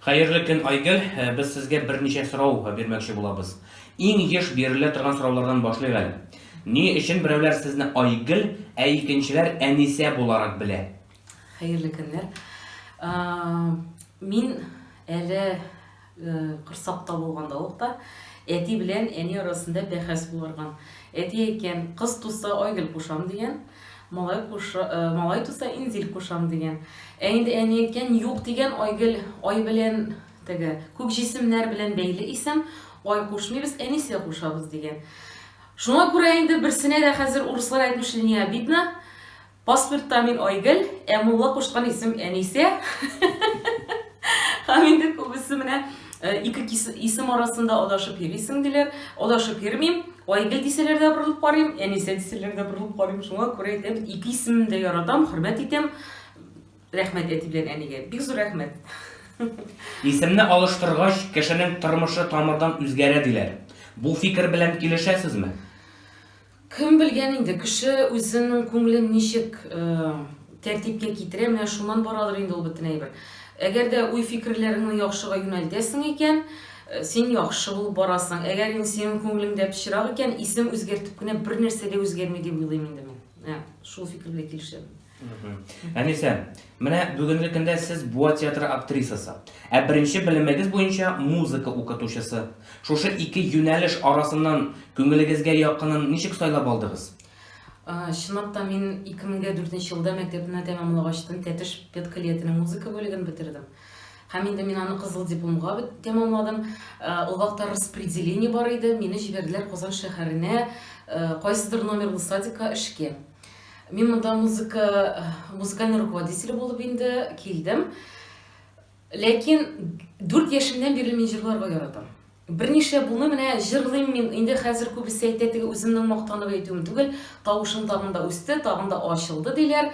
Хәерле көн, Айгөл! Без сезгә берничә сорау бирмәкче булабыз. Иң еш бирелә торган сораулардан башлыйк әле. Ни өчен берәүләр сезне Айгөл, ә икенчеләр Әнисә буларак белә? Хәерле көннәр! Мин әле корсакта булганда ук та әти белән әни арасында бәхәс булырган. Әти әйткән, кыз туса Айгөл кушам дигән. Малай куша, малай туса инзил кушам дигән. Ә инде әни әйткән юк дигән айгел, ай белән теге күк җисемнәр белән бәйле исем, ай кушмыйбыз, әнисә кушабыз дигән. Шуңа күрә инде берсенә дә хәзер урыслар әйтмешли не обидно. Паспортта мин Айгөл, ә мулла кушкан исем Әнисә. Һәм инде күбесе менә Э, ике исем арасында адашып йөрисең диләр адашып йөрмим айгөл дисәләр дә борылып карыйм әнисә дисәләр дә борылып карыйм шуңа күрә әйтәм ике исемне дә яратам хөрмәт итәм рәхмәт әти белән әнигә бик зур рәхмәт исемне алыштыргач кешенең тормышы тамырдан үзгәрә диләр бу фикер белән килешәсезме Кем белгән инде, кеше үзенең күңелен ничек тәртипкә китерә, менә шуннан барадыр инде ул бөтен әйбер. Әгәр дә уй-фикерләреңне яхшыга юнәлтәсең икән, син яхшы булып барасың. Әгәр инде синең күңелеңдә пычрак икән, исем үзгәртеп кенә бер нәрсә дә үзгәрми дип уйлыйм инде мин. Ә, шул фикер белән килешәм. Әнисә, менә бүгенге көндә сез Буа театры актрисасы, ә беренче белемегез буенча музыка укытучысы. Шушы ике юнәлеш арасыннан күңелегезгә якынын ничек сайлап алдыгыз? Чынлап та мин 2004 елда мәктәпне тәмамлагачтын Тәтеш педколлиятенең музыка бүлеген бетердем. Һәм инде мин аны кызыл дипломга тәмамладым. Ул вакытта распределение бар иде, мине җибәрделәр Казан шәһәренә кайсыдыр номерлы садикка эшкә. Мин монда музыка, музыкальный руководитель булып инде килдем. Ләкин 4 яшемнән бирле мин җырларга яратам. Берничә буны менә җырлыйм мин. Инде хәзер күбесе әйтә, теге үземнең мактанып әйтүем түгел, тавышым тагын да үсте, тагын да ачылды диләр.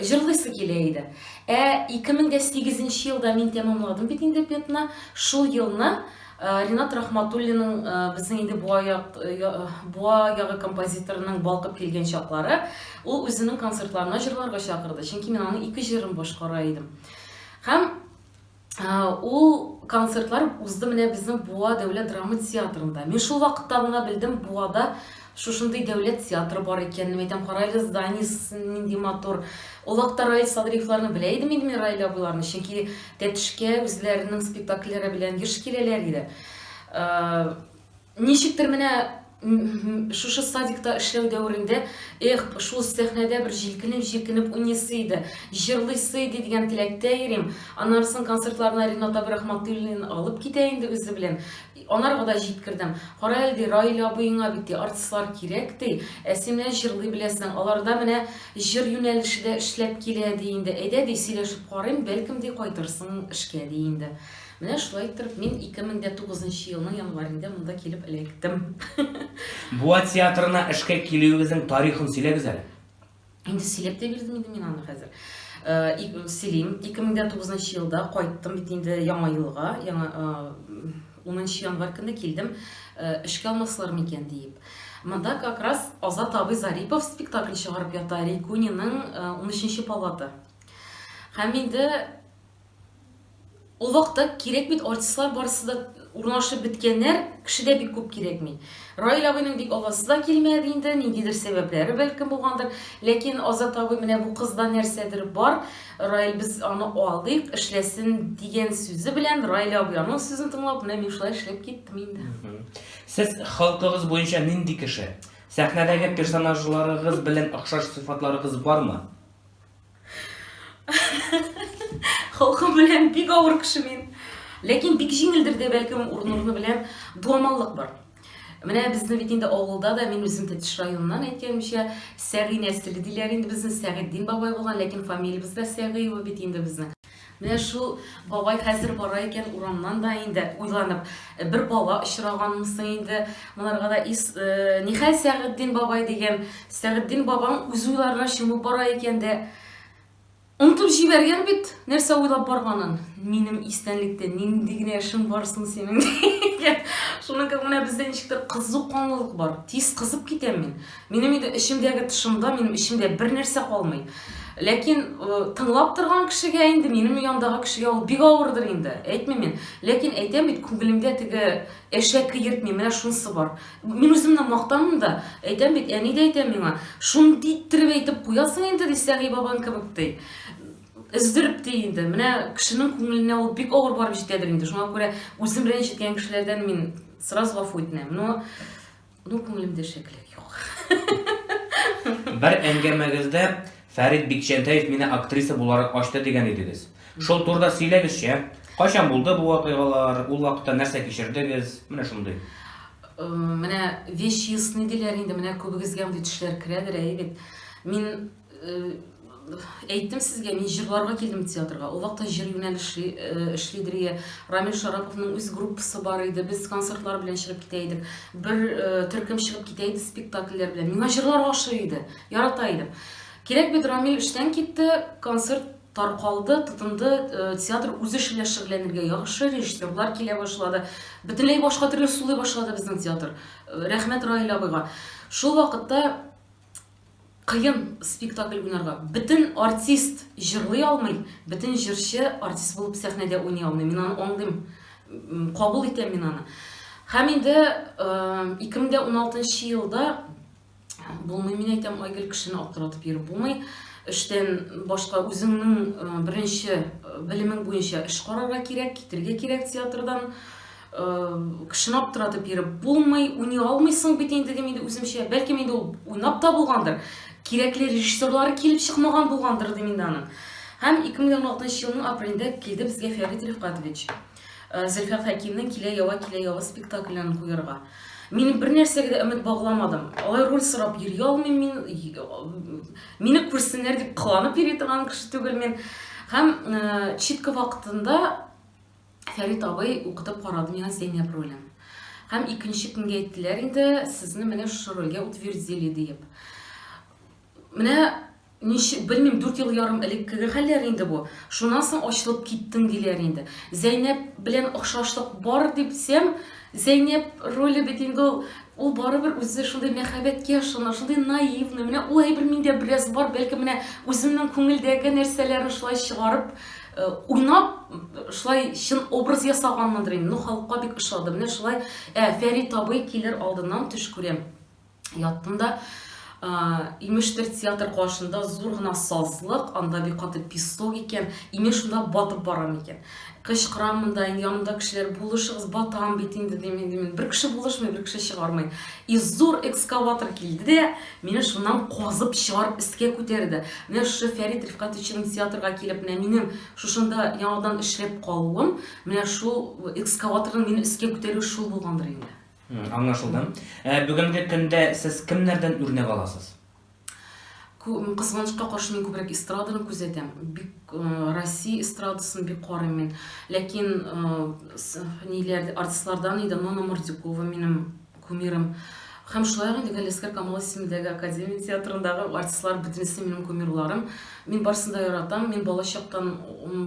Җырлыйсы килә иде. Ә 2008 елда мин тәмамладым бит инде педны. Шул елны Э, Ринат Рахматуллинның э, безнең инде буа як э, буа ягы композиторының балкып килгән чаклары, ул үзенең концертларына җырларга чакырды. Чөнки мин аның ике җырын башкара идем. Һәм ул концертлар узды менә безнең Буа дәүләт драма театрында. Мин шул вакытта гына белдем, Буада Шушындый дәүләт театры бар икән, мин әйтәм, карайлы зданиесе нинди матур. Ул вакытта Раил Садриевларны белә идем инде мин Раил абыйларны, чөнки Тәтешкә үзләренең спектакльләре белән еш киләләр иде. Э, ничектер менә шушы садикта эшләү дәверендә, эх, шул сәхнәдә бер җилкенеп-җилкенеп уйныйсы иде, җырлыйсы иде дигән теләктә йөрим. Аннары соң концертларына Ренат абый Рахматуллин алып китә инде үзе белән. Анарга да җиткердем. Кара әле, ди, Раил абыеңа бит, ди, артистлар кирәк, ди. Ә син менә җырлый беләсең, аларда менә җыр юнәлеше дә эшләп килә, ди инде. Әйдә, ди, сөйләшеп карыйм, бәлкем, ди, кайтырсың эшкә, ди инде. Менә шулай иттереп мин 2009 нчы елның январендә монда килеп эләктем. Буа театрына эшкә килүегезнең тарихын сөйләгез әле. Инде сөйләп тә бирдем инде мин аны хәзер. Э, Селим, 2009 елда кайттым бит инде яңа елга, яңа 10 январь көне килдем, э, эшкә алмаслар микән диеп. Монда как раз Азат абый Зарипов спектакль чыгарып ята, Рикуниның 13 э, палата. Һәм инде Ул вакытта кирәк бит, артистлар барысы да урнашып беткәннәр, кеше дә бик күп кирәкми. Раил абыйның бик аласы да килмәде инде, ниндидер сәбәпләре бәлкем булгандыр. Ләкин Азат абый менә бу кызда нәрсәдер бар, Раил без аны алдыйк, эшләсен дигән сүзе белән Раил абый аның сүзен тыңлап, менә мин шулай эшләп киттем инде. Сез халкыгыз буенча нинди кеше? Сәхнәдәге персонажларыгыз белән охшаш сыйфатларыгыз бармы? Халкым белән бик авыр кеше мин. Ләкин бик җиңелдер дә бәлкем урын-урыны белән дуамаллык бар. Менә безне бит инде авылда да мин үзем Тәтеш районыннан әйткәнемчә Сәгый нәселе диләр инде безне Сәгыйтдин бабай булган, ләкин фамилиябез дә Сәгыева бит инде безнең. Менә шул бабай хәзер бара икән урамнан да инде уйланып, бер бала очраганмы соң инде монарга да ис, нихәл Сәгыддин бабай дигән, Сәгыддин бабаң үз уйларына чумып бара икән дә, онытып җибәргән бит, нәрсә уйлап барганын. Минем истәнлектә нинди генә эшең бар соң синең? Шуның кебек менә бездә ничектер кызу канлылык бар. Тиз кызып китәм мин. Минем инде эчемдәге тышымда, минем эчемдә бер нәрсә калмый. Ләкин тыңлап торган кешегә инде, минем яндагы кешегә ул бик авырдыр инде. Әйтмим мин. Ләкин әйтәм бит, күңелемдә теге әшәке йөртми, менә шунысы бар. Мин үземне мактамын да, әйтәм бит, әни дә әйтә миңа, шундый иттереп әйтеп куясың инде, ди Сәгый бабаң кебек ди. Өздереп ди инде. Менә кешенең күңеленә ул бик авыр барып җитәдер инде. Шуңа күрә үзем белән җиткән кешеләрдән мин сразу гафу үтенәм. Но Ну, күңелемдә шәкелек юк. Бер әңгәмәгездә Фәрит Бикчәнтәев мине актриса буларак ачты дигән идегез. Шул турда сөйләгезче. Кайчан булды бу вакыйгалар? Ул вакытта нәрсә кичердегез? Менә шундый. Э, менә вещи ясный диләр инде, менә күбегезгә мондый төшләр керәдер, әйе бит. Мин Әйттем сезгә, мин җырларга килдем театрга. Ул вакытта җыр юнәлеше эшли Дрия. Рамил Шараповның үз группасы бар иде. Без концертлар белән чыгып китә идек. Бер төркем чыгып китә иде спектакльләр белән. Миңа җырлар ошый иде. Ярата идем. Кирәк бит Рамил эштән китте, концерт таркалды, тотынды, э, театр үз эше белән шөгыльләнергә яхшы, режиссерлар килә башлады. Бөтенләй башка төрле сулый башлады безнең театр. Э, рәхмәт Раил абыйга. Шул вакытта кыен спектакль уйнарга. Бөтен артист җырлый алмый, бөтен җырчы артист булып сәхнәдә уйный алмый. Мин аны аңлыйм, кабул итәм мин аны. Һәм инде 2016 э, елда булмый, мин әйтәм, Айгөл кешене аптыратып йөреп булмый. Эштән башка үзеңнең э, беренче э, белемең буенча эш карарга кирәк, китергә кирәк театрдан. кешене аптыратып йөреп булмый, уйный алмыйсың бит инде дим инде үземчә. Бәлки инде ул уйнап та булгандыр. Кирәкле режиссерлары килеп чыкмаган булгандыр дим инде аның. Һәм 2016 елның апрелендә килде безгә Фәрит Рифкатович. Э, Зөлфәр Хәкимнең Килә ява, килә ява спектаклен куярга. Мин бер нәрсәгә дә өмет багламадым. Алай роль сорап йөри алмыйм мин. Мине күрсеннәр дип кыланып йөри торган кеше түгел мин. Һәм э, читка вакытында Фәрит абый, укытып карадым янә Зәйнәб ролен. Һәм икенче көнгә әйттеләр инде, сезне менә шушы рольгә утвердили диеп. Менә ничек, белмим, дүрт ел ярым элеккеге хәлләр инде бу. Шуннан соң ачылып киттең диләр инде. Зәйнәб белән охшашлык бар дипсәм, Зәйнәб роле бит инде ул, ул барыбер үзе шундый мәхәббәткә ышана, шундый наивный, менә ул әйбер миндә бераз бар, бәлки менә үземнең күңелдәге нәрсәләрне шулай чыгарып, э, уйнап, шулай чын образ ясаганмындыр инде, ну халыкка бик ошады, менә шулай, ә Фәрит абый килер алдыннан төш күрәм. яттым да. Имештер театр каршында зур гына сазлык, анда бик каты песок икән, имен шунда батып барам икән. Кычкырам монда, инде янымда кешеләр булышыгыз, батам бит инде дим, инде мин бер кеше булышмый, бер кеше чыгармый. И зур экскаватор килде дә, мине шуннан казып чыгарып өскә күтәрде. Менә шушы Фәрит Рифкатовичның театрга килеп, менә минем шушында яңадан эшләп калуым, менә шул экскаваторның мине өскә күтәрү шул булгандыр инде. Аңлашылды. Ә бүгенге көндә сез кемнәрдән үрнәк аласыз? Кызганычка каршы мин күбрәк эстраданы күзәтәм. Бик Россия эстрадасын бик карыйм мин. Ләкин ниләр артистлардан иде Нона Мордюкова минем кумирым. Һәм шулай инде Галискар Камал исемендәге академия театрындагы артистлар бөтенесе минем кумирларым. Мин барысын да яратам. Мин балачактан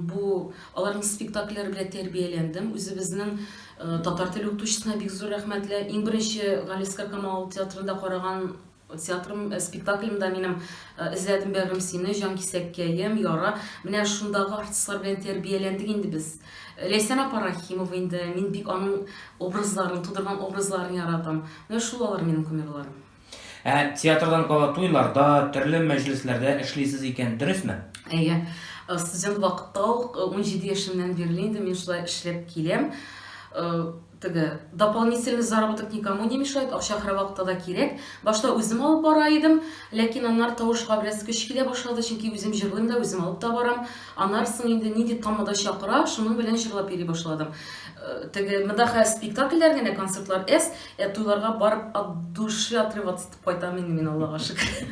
бу аларның спектакльләре белән тәрбияләндем. Үзебезнең Э, татар теле укытучысына бик зур рәхмәтле иң беренче галискар камал театрында караган театрым э, спектаклемда минем э, эзләдем бәгырем сине җан кисәккәем яра менә шундагы артистлар белән тәрбияләндек инде без ләйсән апа рахимова инде мин бик аның образларын тудырган образларын яратам менә шул алар минем кумирларым Ә театрдан кала туйларда, төрле мәҗлесләрдә эшлисез икән, дөресме? Әйе. Э, студент вакытта ук 17 э, яшемнән бирле инде мин шулай эшләп киләм. Э, теге дополнительный заработок никому не мешает, акча һәрвакытта да кирәк. Башта үзем алып бара идем, ләкин аннар тавышка бераз көч килә башлады, чөнки үзем җырлыйм да, үзем алып та барам. Аннар соң инде нинди тамада чакыра, шуның белән җырлап йөри башладым. Теге мөдәхә спектакльләр генә концертлар эс Ә туйларга барып от души отрываться итеп кайтам инде мин Аллага шөкер.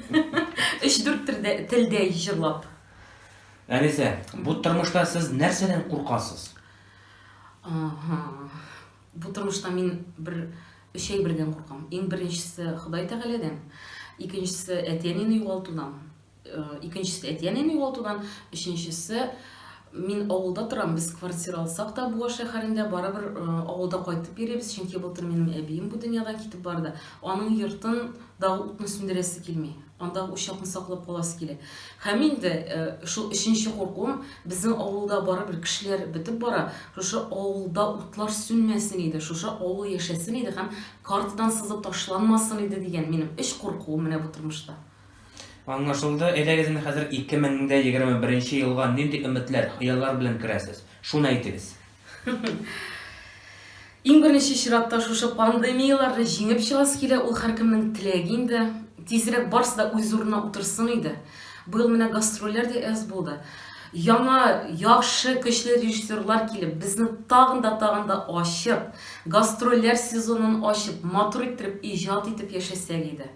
Өч-дүрт телдә телдә җырлап. Әнисә, бу тормышта сез нәрсәдән куркасыз? Ага. Бу тормышта мин бер өч әйбердән куркам. Иң беренчесе Ходай Тәгаләдән, икенчесе әти-әнине югалтудан, Икенчесе әти-әнине югалтудан, өченчесе мин авылда торам, без квартира алсак та Буа шәһәрендә барыбер авылда кайтып йөрибез, чөнки былтыр минем әбием бу дөньядан китеп барды. Аның йортын да утны сүндерәсе килми. Анда учакны саклап каласы килә. Һәм инде шул өченче куркуым, безнең авылда барыбер кешеләр бетеп бара, шушы авылда утлар сүнмәсен иде, шушы авыл яшәсен иде һәм картадан сызып ташланмасын иде дигән минем өч куркуым менә бу тормышта. Аңлашылды. Әйдәгез инде хәзер 2021 нче елга нинди өметләр, хыяллар белән керәсез? Шуны әйтегез. Иң беренче чиратта шушы пандемияләрне җиңеп чыгасы килә, ул һәркемнең теләге инде. Тизрәк барсы да үз урынына утырсын иде. Быел менә гастрольләр дә әз булды. Яңа, яхшы, көчле режиссерлар килеп, безне тагын да тагын да ачып, гастрольләр сезонын ачып, матур иттереп иҗат итеп яшәсәк иде.